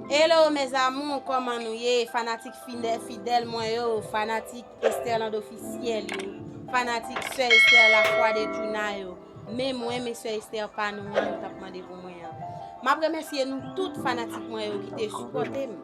Hello mes amours koman nou ye fanatik fidèl mwen yo fanatik Esterland officiel yo fanatik sè Esther la foi de Djouna yo men mwen men sè Esther pa nou an nou tap mande pou mwen an map remèsye nou tout fanatik mwen yo ki te sipotem.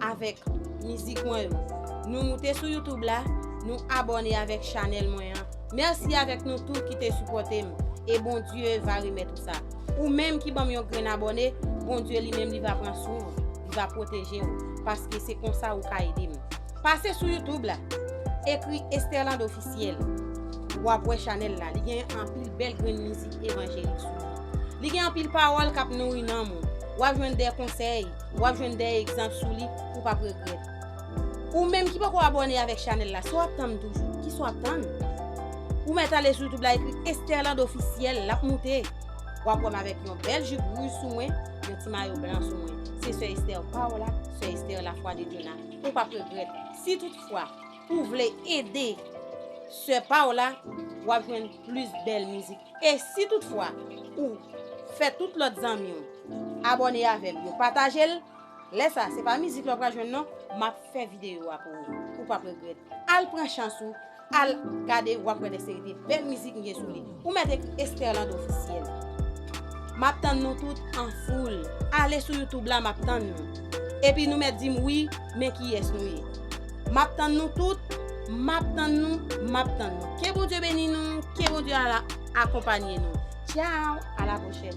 avèk mizik mwen yo. Nou moute sou youtube la, nou abòne avèk chanèl mwen an. Mèsi avèk nou tout ki te sipòte m e Bondye va remèt ou sa. Ou menm ki ban m yon grenn abòne, Bondye li menm li va pran swen ou, li va pwoteje ou paske se konsa ou ka ede m. Pase sou youtube la, ekri Esterland Officiel, w ap wè chanèl la, li gen anpil bèl grenn mizik evanjelik sou li. Li gen anpil pawòl k ap nouri nanm ou, w ap jwenn de konsèy, W ap jwenn de egzanp sou li ou pap regrèt. Ou menm ki poko abòne avèk chanèl la sa w ap tann toujou? Kisa w ap tann? Ou mèt ale sou youtube la ekri Esterland officiel l ap moute. W ap wè m avèk yon bèl jup rouj sou mwen, yon ti mayo blan sou mwen. Se sè Esther Paola, sè Esther la foi de Dieu la. Ou pap regrèt. Si tout fwa ou vle ede sè Paola w ap jwenn plis bèl mizik. E si tout fwa ou Fè tout lòt zanmiw abòne avèm yo patajel lè sa se pa mizik la ou pral jwenn non map fè video a pou ou ou pap regrèt al pran chans ou al gade wap wè de seri de bèl mizik mgen sou li ou mèt ekri Esterland officiel map tann nou tout an foul ale sou YouTube la map tann nou epi nou mèt dim wi men kiyès nou ye. Map tann nou tout, map tann nou, map tann nou. Ke Bondye beni nou, ke Bondye akonpanye nou. Ciao, a la pwochèn.